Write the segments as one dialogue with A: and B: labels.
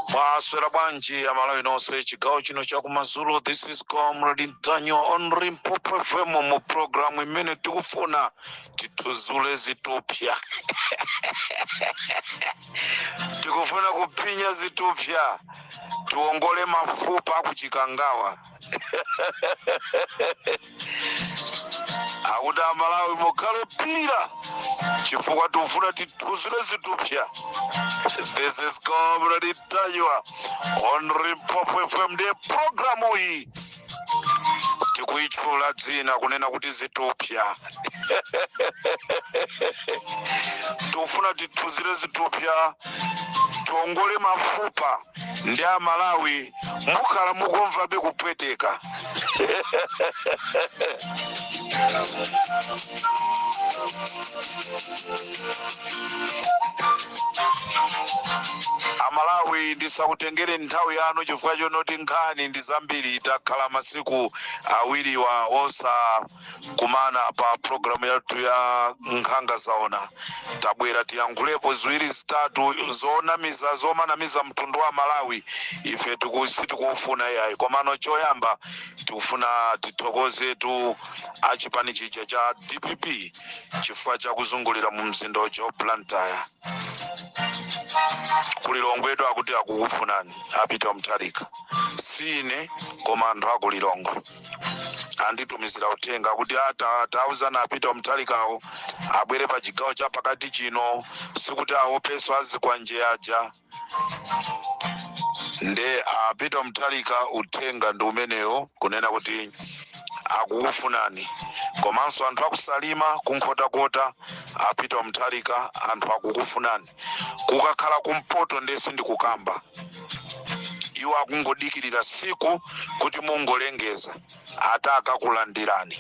A: mwaswera bwanji amalawi nonse chigawo chino chakumadzulo this is comrade ntanyiwa on limpopo fm mu programu imene tikufuna tithuzule zithupsa tikufuna kuphinya zithupsa tiwongole mafupa akuchikangawa akuti amalawi mukhulupira chifukwa tikufuna tithuzire zithupsa this is comrade ntanyiwa on limpopo fm nde programu iyi tikuyitchula dzina kunena kuti zithupsa tikufuna tithuzire zithupsa tiongole mafupa ndi amalawi mukhala mukumvabe kupweteka amalawi ndisakutengere nthawi yanu chifukwa chonoti nkhani ndi zambiri takhala masiku awiriwa osa kumana pa programu yathu ya nkhanga zaona tabwera tiyankhulepo ziwiri zitatu zonamiza zomanamiza mtundu wa malawi ife tiku- sitikufuna yayi komano choyamba tikufuna tithokozetu achipani chija cha dpp chifukwa chakuzungulira mu mzinda uja wa blantyre kulilongwetu akuti akukufunani a peter mutharika siine koma anthu akulilongwe anditumizira uthenga kuti ata tauzani a peter mutharikawo abwere pa chigawo cha pakati chino sikuti awopeso azikwanje aja nde a peter mutharika uthenga ndi umenewo kunena kuti akukufunani komanso anthu akusalima kunkhotakota a peter mutharika anthu akukufunani kukakhala kumpoto nde sindikukamba iwo akungodikirira siku kuti mungolengeza ata akakulandirani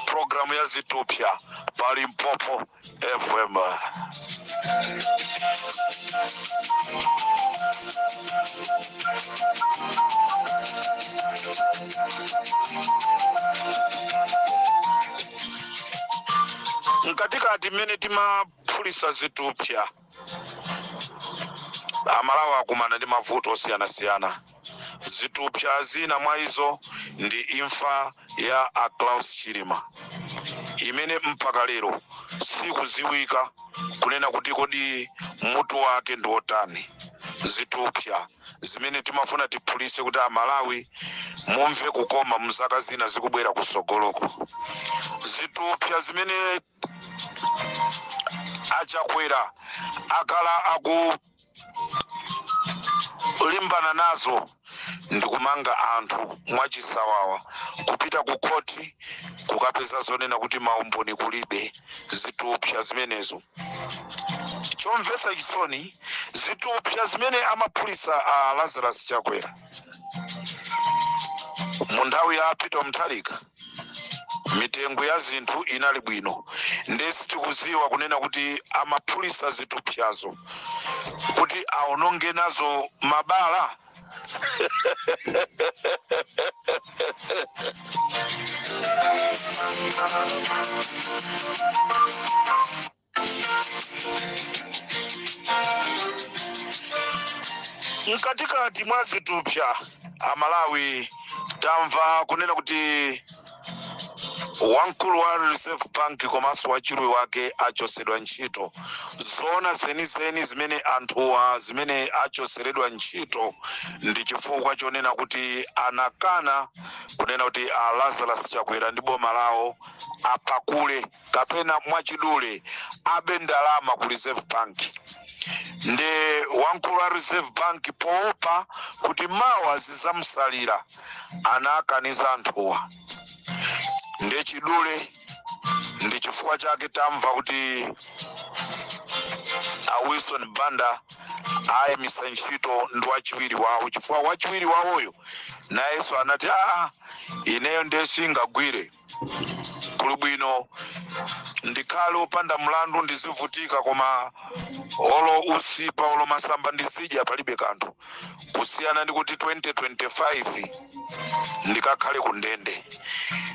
A: programu ya zithupsa pa limpopo FM. mkatikati mmene timaphulisa zithupsa amalawi akumana ndi mavuto osiyanasiyana zithupsa zina mwa izo ndi imfa ya a Klaus Chilima imene mpaka lero sikuziwika kunena kuti kodi mutu wake ndi wotani zithupsa zimene timafuna tiphulise kuti amalawi mumve kukoma mzaka zina zikubwera kusogoloko zithupsa zimene a chakwera akhala akulimbana nazo ndikumanga anthu mwachisawawa kupita ku khoti kukapeza zoonena kuti maumboni kulibe zithupsa zimenezo chomvesa chisoni zithupsa zimene amaphulisa a lazarus chakwera mu nthawi ya peter mutharika mitengo ya zinthu inali bwino nde sitikuziwa kunena kuti amaphulisa zithupsazo kuti aononge nazo mabala mkatikati mwa zithupsa amalawi tamva kunena kuti wamkulu wa reserve bank komanso wachiwiri wake achosedwa ntchito zoona zenizeni zimene anthuwa zimene achoseredwa ntchito ndi chifukwa chonena kuti anakana kunena kuti a lazarus chakwera ndi boma lawo apakule kapena mwachidule abe ndalama ku reserve bank nde wamkulu wa reserve bank poopa kuti mawa zizamsalira anakaniza anthuwa nde chidule ndi chifukwa chake tamva kuti a wilson banda ayimisidwa ntchito ndi wachiwiri wawo chifukwa wachiwiri wawoyo nayenso anati aa ineyo ndiye singagwire kuli bwino ndikhale opanda mlandu ndizivutika koma olo usipa olo masamba ndizidya palibe kanthu kusiyana ndi kuti 2025 ndikakhale ku ndende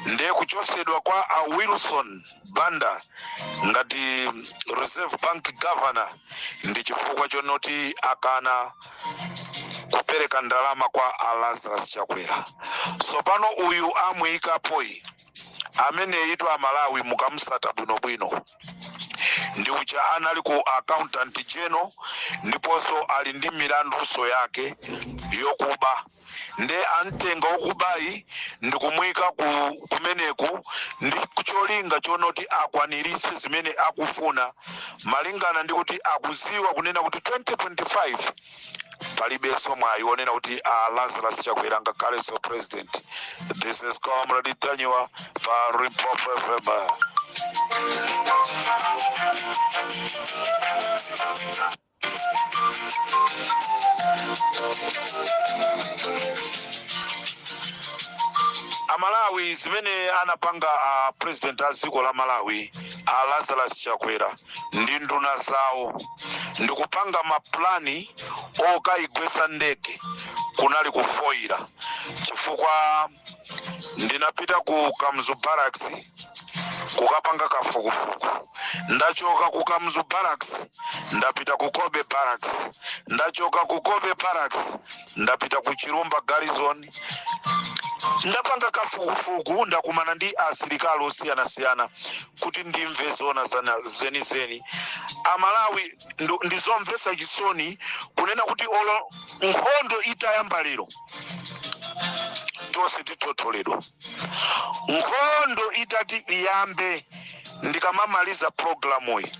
A: ndiye kuchosedwa kwa a wilson banda ngati reserve bank governor ndi chifukwa chonoti akana kupereka ndalama kwa a lazarus chakwera tsopano uyu amuyikapoyi ameneyitu amalawi mukamusata bwinobwino ndi uja anali ku accountant general ndiponso ali ndi milandunso yake yokuba nde antenga okubayi ndikumuyika kumeneku ndi cholinga chonoti akwanirise zimene akufuna malingana ndi kuti akuziwa kunena kuti 2025 palibenso mwayi wonena kuti a lazarus chakwera angakhalenso president this is comrade ntanyiwa pa limpopo fm amalawi zimene anapanga a president a dziko la malawi a lazarus chakwera ndi nduna zawo ndikupanga mapulani okayigwesa ndege kunali kufoyira chifukwa ndinapita ku kamuzu barracks kukapanga kafukufuku ndachoka ku kamuzu barracks ndapita ku cobbe barracks ndachoka ku cobbe barracks ndapita ku chilumba garrison ndapanga kafukufuku ndakumana ndi asilikali osiyanasiyana kuti ndimve zona zana- zenizeni amalawi ndo- ndizomvesa chisoni kunena kuti olo nkhondo itayamba lero tonse tithotholedwa nkhondo itati iyambe ndikamamaliza pulogalamuyi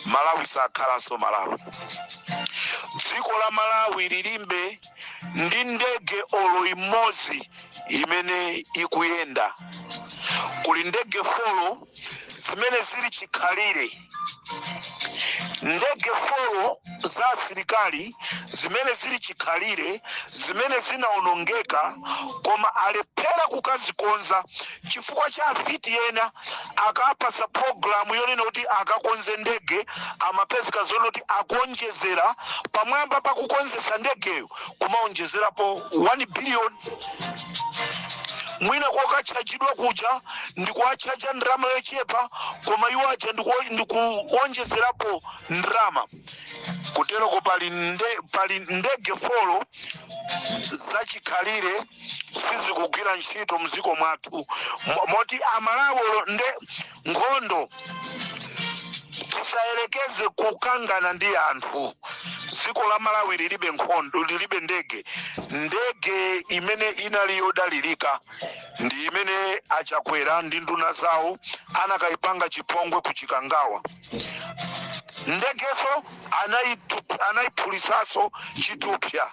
A: malawi sakhalanso malawi dziko la malawi lilibe ndi ndege olo imodzi imene ikuyenda kuli ndege folo zimene zili chikhalire ndege folo za asilikali zimene zili chikhalire zimene zinaonongeka koma alephera kukazikonza chifukwa cha afiti ena akapasa pulogalamu yonena kuti akakonze ndege amapezeka zonena kuti akuonjezera pamwamba pakukonzesa ndegeyo kumaonjezerapo 1 billion mwina kokatchajidwa kuja ndikuwatchaja ndalama yochepa koma iwo aja ndiku- ndikuonjezerapo ndalama kuteroko pali nde, pali ndege folo zachikhalire sizikugwira ntchito mdziko mwathu Mo- moti amalawi olo nde nkhondo tisayerekeze kukangana ndi anthu dziko la malawi lilibe nkhondo lilibe ndege ndege imene inali yodalirika ndi imene achakwera ndi nduna zawo anakayipanga chipongwe ku chikangawa ndegeso anaitu- anaiphulitsaso chithupsa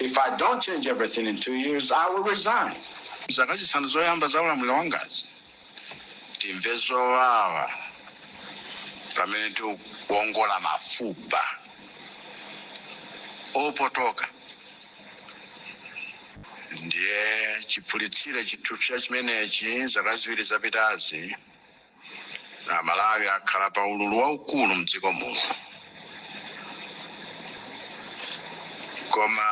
B: If I don't change everything in two years, I will resign. Zaka zisanu
C: zoyamba za ulamuliro wangazi timve zowawa pamene tikuwongola mafupa opotoka ndiye chiphulitsire chithupsa chimenechi zaka ziwiri zapitazi Amalawi akhala pa ululu waukulu mdziko muno koma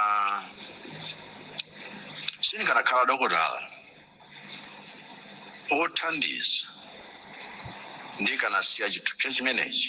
C: sindikanakhala dokotala othandiza ndikanasiya chithupsa chimenechi.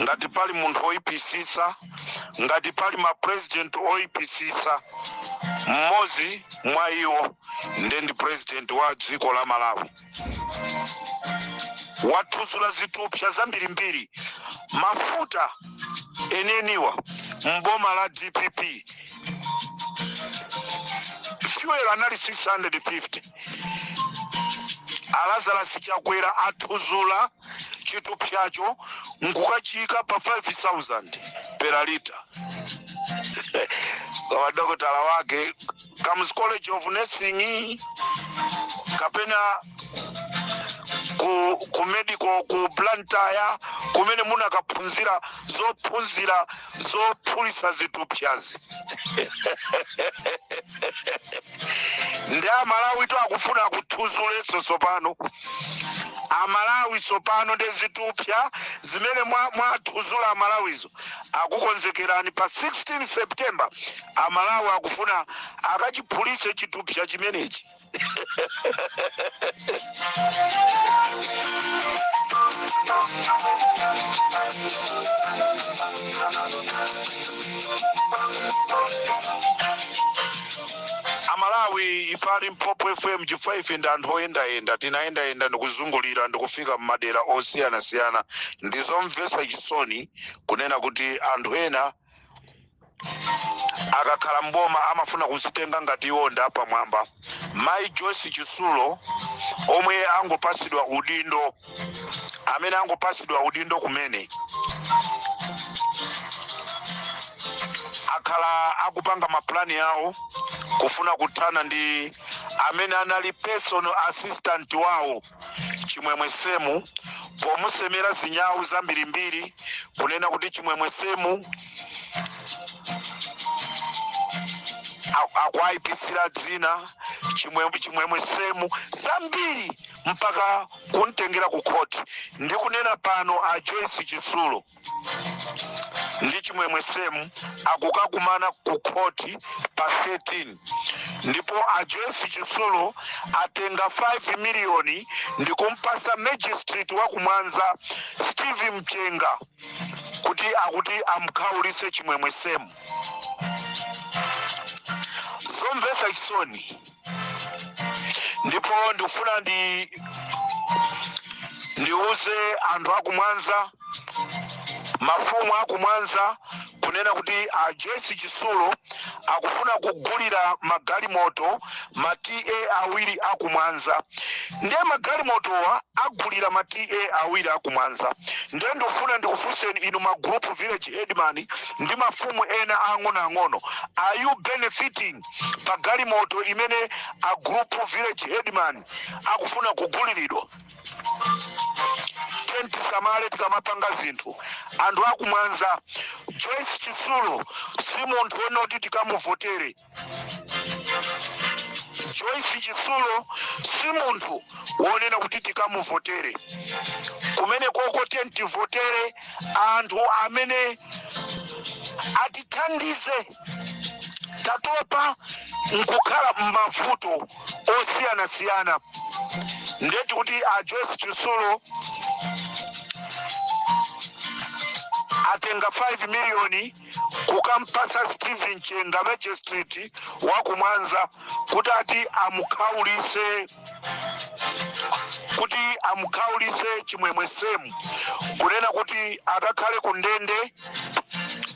A: ngati pali munthu oyipisisa ngati pali mapresident oyipisisa mmodzi mwa iwo nde ndi president wa dziko la malawi wathudzula zithupsa zambirimbiri mafuta enieniwa mboma la dpp fuel anali 650 a lazarus chakwera athudzula chithupsacho nkukachiyika pa 5000 per lita koma dokotala wake kamuzu college of nursing kapena ku, ku medical ku blantyre kumene munakaphunzira zophunzira zophulisa zithupsazi ndi amalawi to akufuna akuthudzulenso tsopano amalawi sopano nde zithupsa zimene mwa- mwathudzula amalawizo akukonzekerani pa 16 september amalawi akufuna akachiphulise chithupsa chimenechi amalawi ife a limpopo fm chifukwa ife ndi anthu oyendayenda tinayendayenda ndikuzungulira ndikufika mmadera osiyanasiyana ndizomvetsa chisoni kunena kuti anthu ena akakhala mboma amafuna kuzitenga ngati iwo ndi apamwamba mayi joyce chitsulo omwe angopasidwa udindo amene angopatsidwa udindo kumene akhala akupanga mapulani yawo kufuna kuthana ndi amene anali personal assistant wawo chimwemwe semu pomusemera zinyawu zambirimbiri kunena kuti chimwemwe semu a- akuayipisira dzina chimwemwe semu zambiri mpaka kumtengera ku khoti ndikunena pano a joyce chitsulo ndi chimwemwe semu akukakumana ku khoti pa 13 ndipo a joyce chitsulo atenga 5 miliyoni ndikumpasa magistrate wa ku mwanza steve mchenga kuti akuti amkhaulise chimwemwe semu zomvesa chisoni ndipo ndikufuna ndi ndiuze anthu akumwanza mafumu akumwanza kunena kuti a joyce chisulo akufuna kugulira magalimoto ma ta awiri akumwanza ndiye magalimotowa agulira ma ta awiri akumwanza ndiye ndikufuna ndikufunseni inu ma group village headman ndi mafumu ena ang'onoang'ono are you benefiting pa galimoto imene a group village headman akufuna kuguliridwa tiyeni tisamale tikamapanga zinthu anthu akumwanza joyce chisulo si munthu wonena kuti tikamuvotere joyce chisulo si munthu wonena kuti tikamuvotere kumene koko tiyeni tivotere anthu amene atithandize tatopa nkukhala m'mavuto osiyanasiyana ndeti kuti a joyce chisulo atenga 5 miliyoni kukampasa steven chenga magistrate wakumwanza kuti ati amukhaulise kuti amukhaulise chimwemwe semu kunena kuti akakhale ku ndende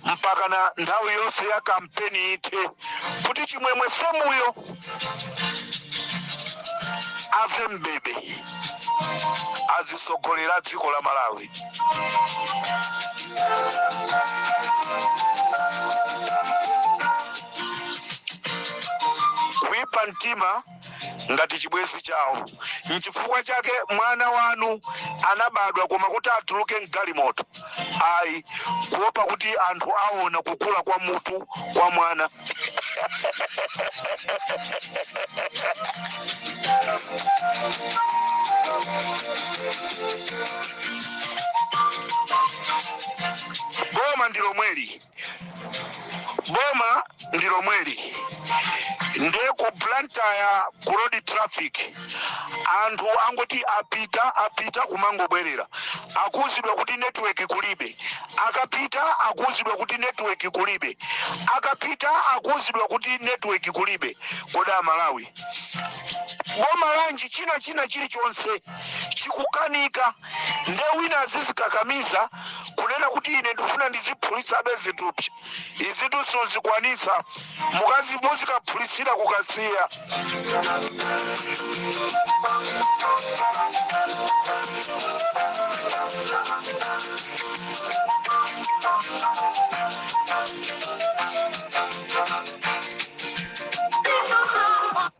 A: mpakana nthawi yonse ya kampeni ithe kuti chimwemwe semuyo ave mbebe azisogolera dziko la malawi kuipa mtima ngati chibwenzi chawo nchifukwa chake mwana wanu anabadwa koma kuti atuluke mgalimoto ayi kuopa kuti anthu aona kukula kwa mutu kwa mwana boma ndi lomweli boma ndi lomweli nde ku blantyre ku road traffic anthu angoti apita apita kumangobwerera akuuzidwa kuti network kulibe akapita akuuzidwa kuti network kulibe akapita akuuzidwa kuti network kulibe kodi amalawi boma lanji china china chilichonse chikukanika nde wina azizikakamiza kunena kuti ine ndifuna ndiziphulitsabe zithupsa izitu suzikwanisa mukazi muzikaphulitsira ku kasiya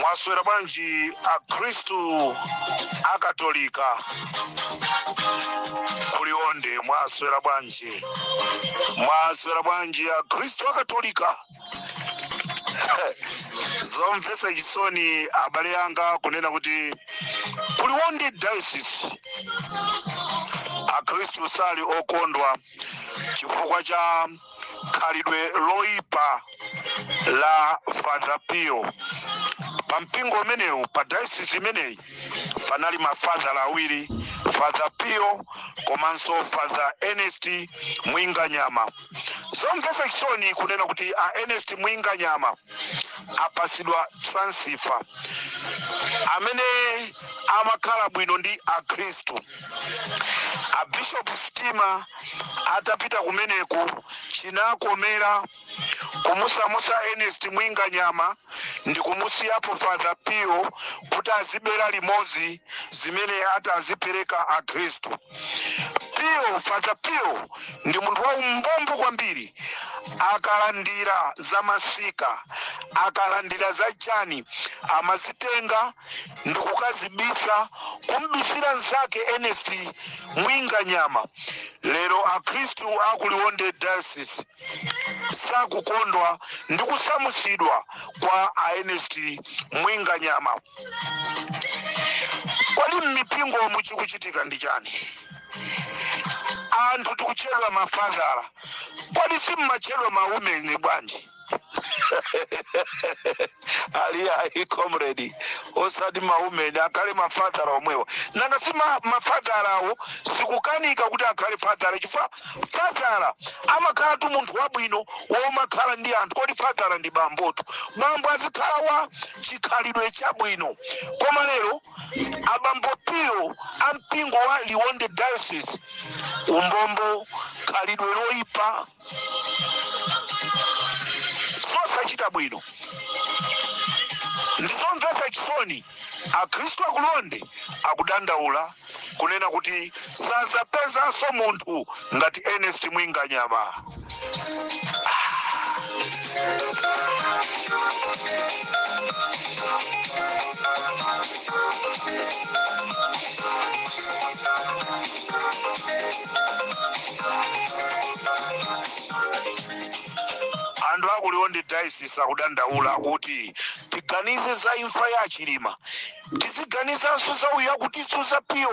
A: mwaswera bwanji akhristu akatolika kuliwonde mwaswera bwanji mwaswera bwanji akhristu akatolika zomvetsa chisoni abale yanga kunena kuti kuliwonde diocese akhristu sali okondwa chifukwa cha khalidwe loipa la father pio pa mpingo umenewu pa dayosisi imeneyi panali mafadhala awiri father pio komanso father ernest mwinganyama zomvetsa chisoni kunena kuti a ernest mwinganyama apasidwa transfer amene amakhala bwino ndi akhristu a bishop stima atapita kumeneku chinakomera kumusamusa ernest mwinganyama ndi kumusiyapo father pio kuti azibera limodzi zimene atazipereka akhristu pio father pio ndi munthu waumbombo kwambiri akalandira za masika akalandira za chani amazitenga ndikukazibisa kumbisira nzake Ernest Mwinganyama lero akhristu a ku Liwonde Diocese sakukondwa ndi kusamusidwa kwa a Ernest Mwinganyama kodi mmipingo mu chikuchitika ndi chani anthu tikutchedwa mafadhala kodi simmatchedwa mawumeni bwanji ali ayi comrade osati maumeni akhale mafadhala omwewa nanga si ma- mafadhalawo sikukanika kuti akhale fadhala chifukwa fadhala amakhalatu munthu wabwino womakhala ndi anthu kodi fadhala ndi bambotu bambo azikhala wa chikhalidwe chabwino koma lero abambo pio a mpingo wa liwonde diocese umbombo khalidwe loyipa sosachita bwino ndizomvetsa chisoni akhristu akuliwonde akudandaula kunena kuti sazapezanso munthu ngati ernest mwinganyama anthu akuliwo ndi diocese akudandaula kuti tiganize za imfa ya chilima tiziganizanso za uyu akutizunza pano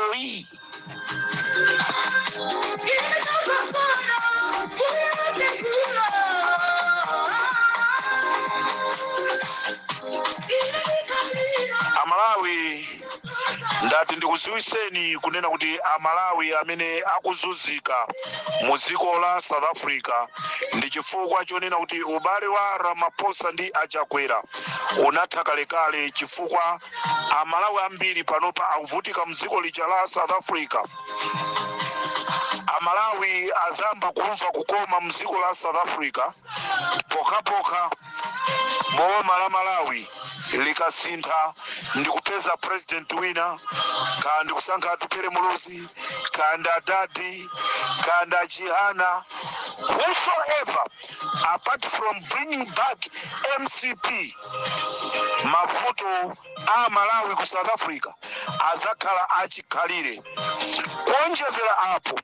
A: amalawi ndati ndikuziwiseni kunena kuti amalawi amene akuzunzika mu dziko la south africa ndi chifukwa chonena kuti ubale wa ramaphosa ndi achakwera unatha kalekale chifukwa amalawi ambiri panopa akuvutika mdziko lija la south africa amalawi adzayamba kumva kukoma mdziko la south africa pokhapokha boma la malawi likasintha ndikupeza president wina kaya ndikusankha atupere muluzi kaya ndi adadi kaya ndi achihana whosoever apart from bringing back mcp mavuto amalawi ku south africa azakhala achikhalire kuonjezera apo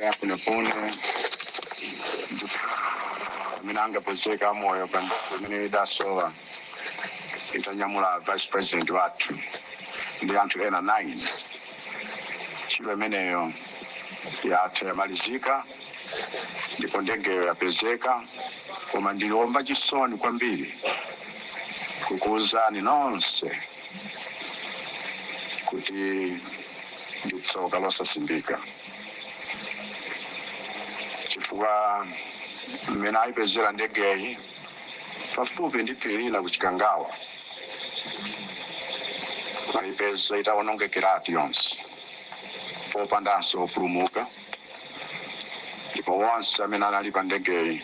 C: afuna kuona amene angapezeke amoyo pa nthawi imene idasowa itanyamula vice president wathu ndi anthu ena 9 ntchito imeneyo yatha yamalizika ndipo ndegeyo yapezeka koma ndili wa chisoni kwambiri kukuuzani nonse kuti ndi tsoka losasimbika chifukwa mmene ayipezera ndegeyi pafupi ndi phiri lina ku chikangawa ayipeza itawonongekeratu yonse popandanso opulumuka ndipo wonse amene anali pa ndegeyi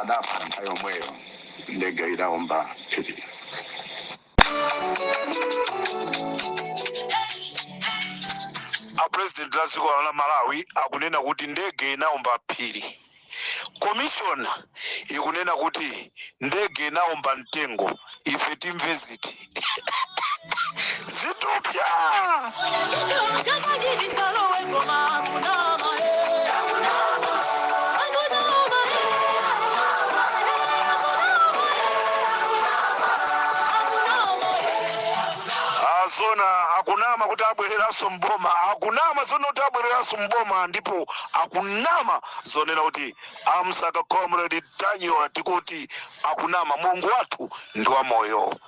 C: adafa nthawi yomweyo ndege idawomba phiri
A: a president a dziko la malawi akunena kuti ndege inaomba phiri komishona ikunena kuti ndege inaomba mtengo ife timve ziti zitupya zona akunama kuti abwereranso mboma akunama zona kuti abwereranso mboma ndipo akunama zonena kuti amsaka comrade ntanyiwa tikuti akunama mulungu wathu ndi wamoyo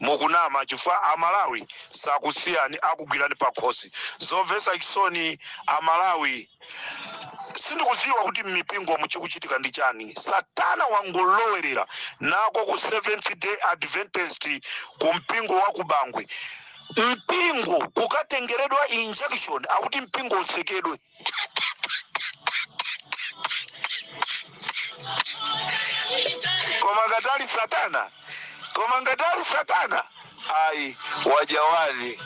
A: Mukunama chifukwa a Malawi sakusiyani akugwirani pakhosi. Zomvetsa chisoni a Malawi sindikudziwa kuti mmipingomu chikuchitika ndi chani. Satana wangolowelera nako ku Seventh Day Adventist ku mpingo wa ku Bangwe. Mpingo kukatengeredwa injunction akuti mpingo utsekedwe. koma ngati ali satana koma ngati ali satana ayi wajawali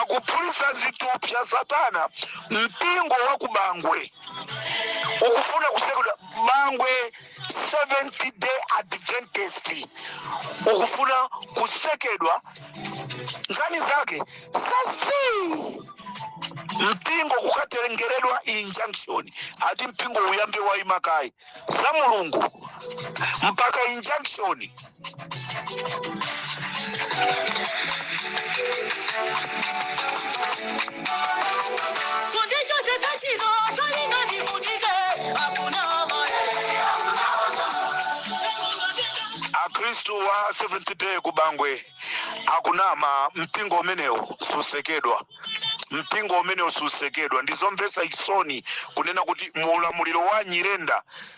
A: akuphulisa zitupsa satana mpingo wa kubangwe ukufuna kusekedwa bangwe seventh day adventist ukufuna kusekedwa nkhani zake sasi mpingo kukatengeredwa injunction ati mpingo uyambe waima kaye za mulungu mpaka injunction akristu wa seventh day ku bangwe akunama mpingo umenewo susekedwa mpingo umenewo susekedwa ndizomvetsa chisoni kunena kuti mu ulamuliro wa nyirenda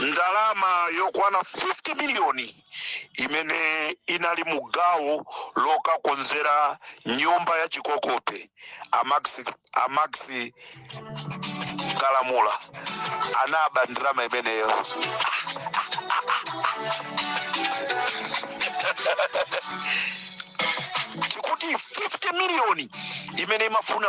A: ndalama yokwana 50 miliyoni imene inali mu gawo lokakonzera nyumba ya chikokope a max kalamula anaba ndalama imeneyo tikuti 50 miliyoni imene imafuna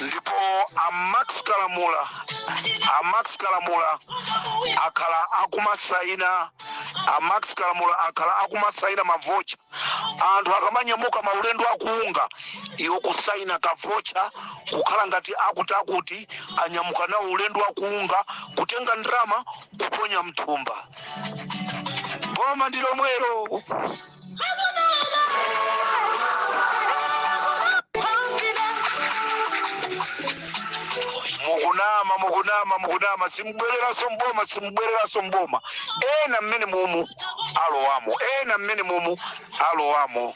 A: ndipo a max kalamula a max kalamula akhala akumasaina a max kalamula akhala akumasaina mavocha anthu akamanyamuka maulendo akuunga iwo kusaina kavocha kukhala ngati akuti akuti anyamuka nawo ulendo wakuunga kutenga ndalama kuponya mthumba boma ndi lomwelo mukunama mukunama mukunama simubwereranso mboma simubwereranso mboma ena mmene mumu alowamo ena mmene mumu alowamo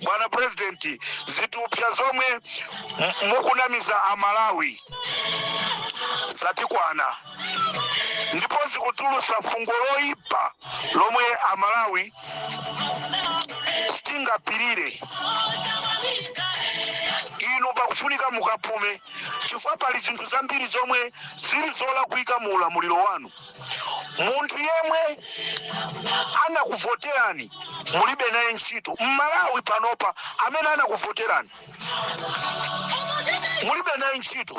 A: bwana purezidenti zitupsa zomwe mukunamiza amalawi zatikwana ndipo zikutulusa fungo loyipa lomwe amalawi sitingapirire inu pakufunika mukapume chifukwa pali zinthu zambiri zomwe zili zolakwika mu ulamuliro wanu munthu yemwe anakuvoterani mulibe naye ntchito mmalawi panopa amene anakuvoterani mulibe naye ntchito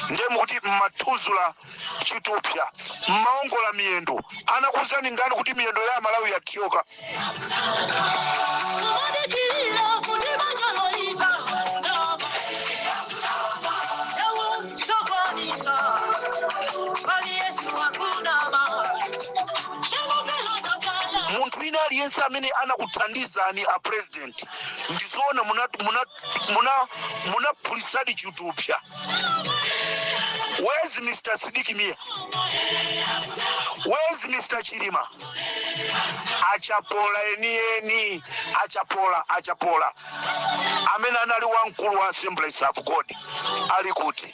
A: ndiye mukuti mmathuzula chitupsa mmaongola miyendo anakuwuzani ndani kuti miyendo ya amalawi yathyoka munthu wina aliyense amene anakuthandizani a president president ndizoona munaphulisadi muna, muna, muna phulisadi chitupsa where's mr sidiki mia where's mr chilima achapola enieni achapola achapola amene anali wamkulu wa assemblies of god ali kuti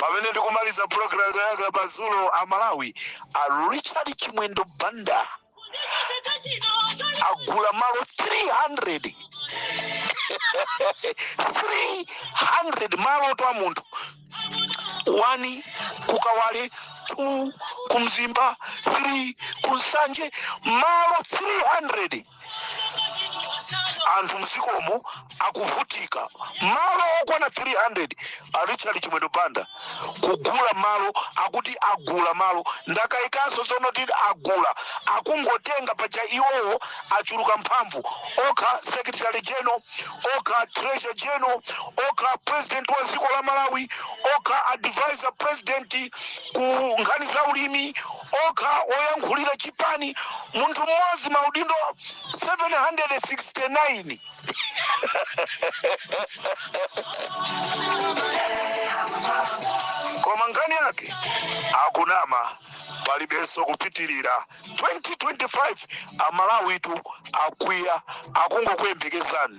A: pamene ndikumaliza pulogalamu yanga pazulo a malawi a richard chimwendo banda agula malo 300 300 malo 2 a munthu wani kukawale two kumzimba three kunsanje malo 300 anthu m'dzikomo akuvutika malo okwana 300 a richard chimwendo banda kugula malo akuti agula malo ndakayikanso zonoti agula akungotenga paja iwowo achuluka mphamvu okha secretary general okha treasurer general okha president wa dziko la malawi okha advisor president ku nkhani za ulimi okha oyankhulira chipani munthu mmodzi maudindo 769 koma nkhani yake akunama palibenso kupitirira 2025 amalawitu akwiya akungokuyembekezani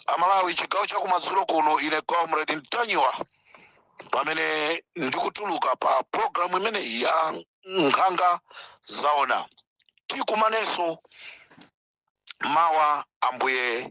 A: amalawi chigawo chakumadzulo kuno ine comrade ntanyiwa pamene ndikutuluka pa programu imeneyi ya nkhanga zaona tikumanenso mawa ambuye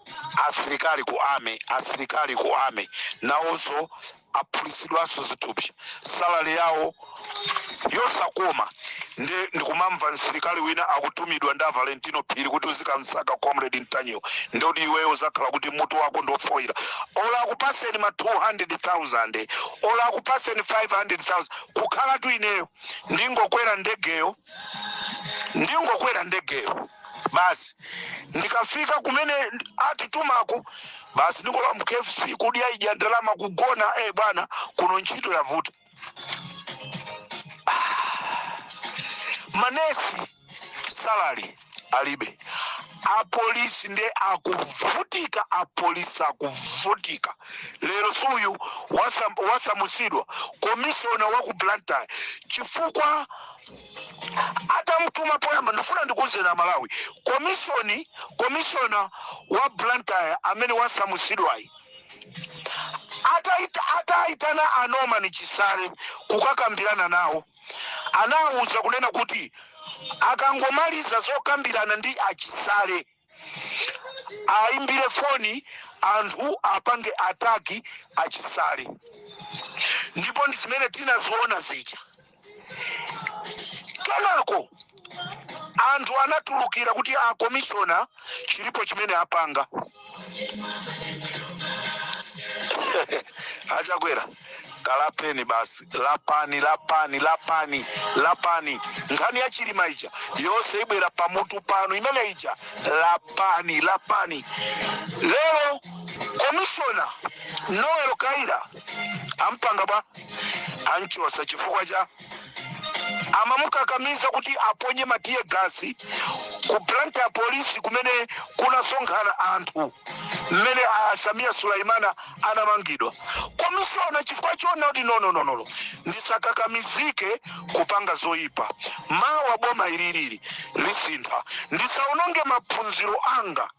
A: asilikali ku army asilikali ku army nawonso aphulitsidwanso zithupsa salary yawo yosakoma ndi ndikumamva msilikali wina akutumidwa ndi Valentino Phiri kuti uzikamsaka comrade Ntanyiwa ndi oti iweyo uzakhala kuti mutu wako ndofoira olo akupaseni ma 200,000 olo akupaseni 500,000 kukhalatu ineyo ndingokwera ndegeyo ndingokwera ndegeyo basi ndikafika kumene atitumako basi ndingolowa mu KFC kuidyaidya ndalama kugona eh bwana kuno ntchito yavuta manesi salary alibe apolisi nde akuvutika apolisi akuvutika lero suyu wasam- wasamusidwa komishona wa ku blantyre chifukwa atamutuma poyamba ndifuna ndikuuzeni amalawi komishoni komishona wa blantyre amene wasamusidwayi ataita- ataitana a Norman Chisale kukakambirana nawo anawauza kunena kuti akangomaliza zokambirana ndi a Chisale ayimbire foni anthu apange ataki a Chisale ndipo ndi zimene tinaziona zija kenako anthu anatulukira kuti akomishona chilipo chimene apanga a Chakwera kalapeni basi lapani lapani lapani lapani nkhani ya chilima ija yonse ibwera pamutu panu imene ija lapani lapani lero komishona Noel Kayira ampanga bwa amchotsa chifukwa cha amamukakamiza kuti aponye ma tear gas ku Blantyre polisi kumene kunasonkhana anthu mmene a Sameer Suleman anamangidwa komishona chifukwa choona kuti nonononono ndisakakamizike kupanga zoyipa mawa boma ililili lisintha ndisaononge maphunziro anga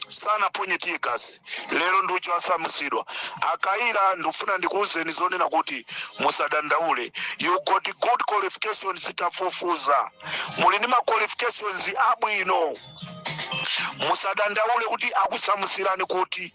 A: sanaponye tear gas lero ndi uja wasamusidwa a Kayira ndifuna ndikuwuzeni zonena kuti musadandaule you got good qualifications titafufuza muli ndi ma qualifications abwino musadandaule kuti akusamusirani kuti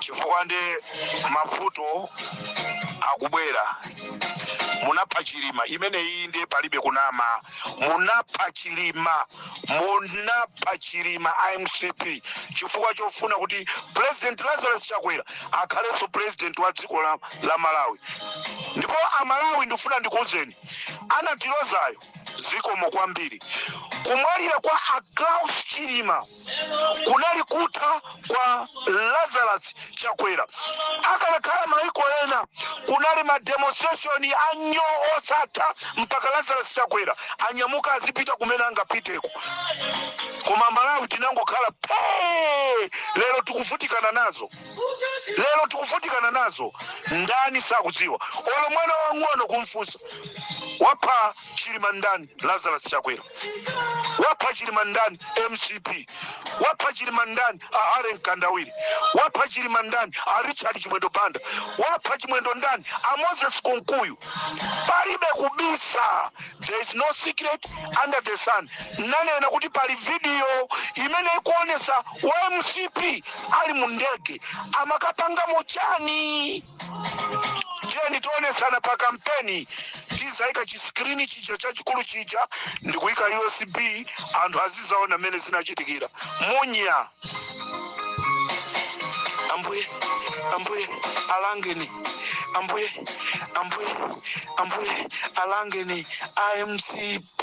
A: chifukwa ndithu mavuto akubwera munapha chilima imeneyi nde palibe kunama munapha chilima munapha chilima a mcp chifukwa chofuna kuti president lazarus chakwera akhalenso president wa dziko la malawi ndipo amalawi ndifuna ndikuuzeni anatilozayo zikomo kwambiri kumwalira kwa a klaus chilima kunali kutha kwa lazarus chakwera akanakhala maiko ena kunali mademonstration anyoo osatha mpaka lazarus chakwera anyamuka azipita kumene angapiteko koma amalawi tinangokhala phee lero tikuvutikana nazo lero tikuvutikana nazo ndani sakudziwa olo mwana wang'ono kumfunsa wapha chilima ndani lazarus chakwera wapha chilima ndani mcp wapha chilima ndani a ken kandodo wapha chilima ndani a richard chimwendo banda wapha chimwendo ndani a moses kunkuyu palibe kubisa there is no secret under the sun nanena kuti pali video imene ikuonesa wa mcp ali mu ndege amakapangamo chani tiyeni tionetsana pa kampeni tizaika chisikrini chija chachikulu chija ndikuika usb anthu azizaona mmene zinachitikira munya ambuye ambuye alangeni ambuye ambuye ambuye alangeni amcp